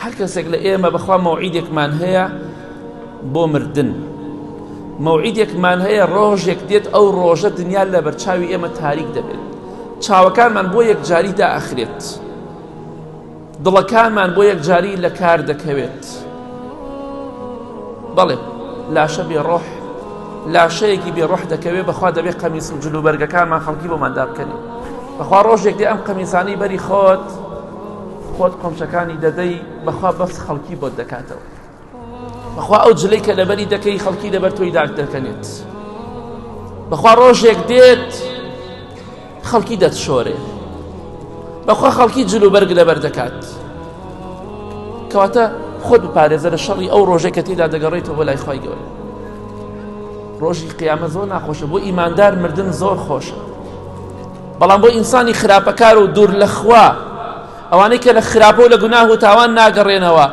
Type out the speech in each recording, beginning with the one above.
هەر کەسێک لە ئێمە بەخوا مەوعیدێکمان هەیە بۆ مردن مەوعیدێکمان هەیە ڕۆژێک دێت ئەو ڕۆژە دنیا لە بەرچاوی ئێمە تاریک دەبێت چاوەکانمان بۆ یەکجاری داخرێت دڵەکانمان بۆ یەکجاری لە کار دەکەوێت بەڵێ لاشە بێ ڕۆح لاشەیەکی بێ ڕۆح دەکەوێ بەخوا دەبێ قەمیس و جلوبەرگەکانمان خەڵکی بۆمان دابکەنی بەخوا ڕۆژێک دێ ئەم قەمیسانی بەری خۆت خۆت قۆمچەکانی دەدەی بەخوا بەس خەڵکی بۆت دەکاتەوە بەخوا ئەو جلەی کە لەبەری دەکەی خەڵکی لەبەر تۆی داک دەکەنێت بەخوا ڕۆژێک دێت خەڵکی دەتشۆرێ بەخوا خەڵکی جل و بەرگ لەبەر دەکات کەواتە خۆت بپارێزە لە شەڕی ئەو ڕۆژێک کە تێدا دەگەڕێتەوە لای خی گەورە ڕۆژی قیامە زۆر ناخۆشە بۆ ئیماندار مردن زۆر خۆشە بەڵام بۆ ئینسانی خراپەکار و دوور لە خوا ئەوانەی کە لە خراپە و لە گوناه و تاوان ناگەڕێنەوە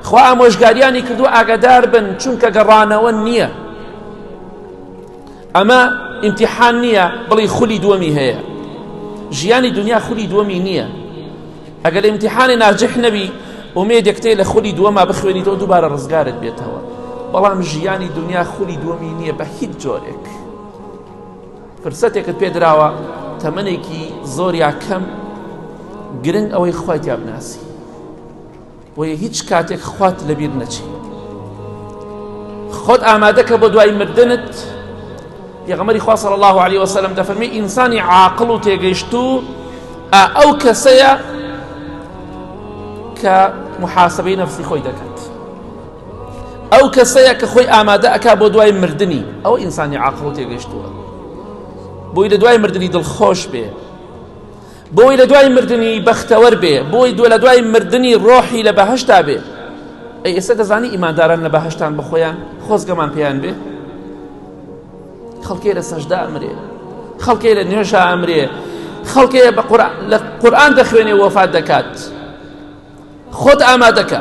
خوا ئامۆژگاریانی کردو ئاگادار بن چونکە گەڕانەوە نییە ئەمە ئیمتیحان نییە بڵی خولی دووەمی هەیە ژیانی دنیا خولی دووەمی نییە ئەگەر ئیمتیحانی ناجح نەبی ئومێدێکتەی لە خولی دووەما بخوێنیتەوە دووبارە ڕزگارت بێتەوە بەڵام ژیانی دنیا خولی دووەمی نییە بە هیچ جۆرێک. فرسەتێکت پێ دراوە تەمەنێکی زۆر یا کەم گرنگ ئەوەی خوای تیا بناسی بۆیە هیچ کاتێک خوات لەبیر نەچی خۆت ئامادەکە بۆ دوای مردنت پێغەمەری خوا صلی الله عليه وسلم دەفەرمی ئینسانی عاقڵ و تێگەیشت و ئەو کەسەیە کە محاسبەی نەفسی خۆی دەکات ئەو کەسەیە کە خۆی ئامادە ئەکا بۆ دوای مردنی ئەو ئینسانی عاقڵ و تێگەشتووە بۆی لە دوای مردنی دڵخۆش بێ بۆی لە دوای مردنی بەختەوەر بێ بۆی دووە لە دوای مردنی ڕۆحی لە بەهشتا بێ ئەی ئێستا دەزانی ئیمانداران لە بەهشتان بخۆیان خۆزگەمان پێیان بێ خەڵکێ لە سەشدا ئەمرێ خەڵکێ لە نوێژا ئەمرێ خەڵکێ بە قورآن دەخوێنێ وەفات دەکات خۆت ئامادەکە